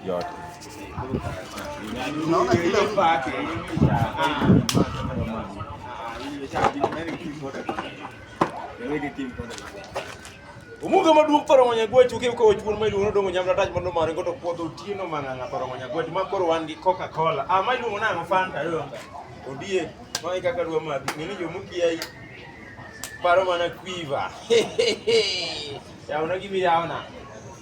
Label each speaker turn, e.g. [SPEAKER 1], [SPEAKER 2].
[SPEAKER 1] yote.
[SPEAKER 2] Unaona kile
[SPEAKER 3] upake
[SPEAKER 1] Umuga maduong' paro ngonya gwech uke uko chuon ma iluongo dongo nyamla taj mondo mare goto puodho tieno mang'anga paro ngonya gwech ma koro wan gi Coca Cola. Ah ma iluongo nang'o Fanta donga. Odie ma e kaka dwa madhi ng'eni jo mukiai paro mana quiver. Yauna gimi yauna.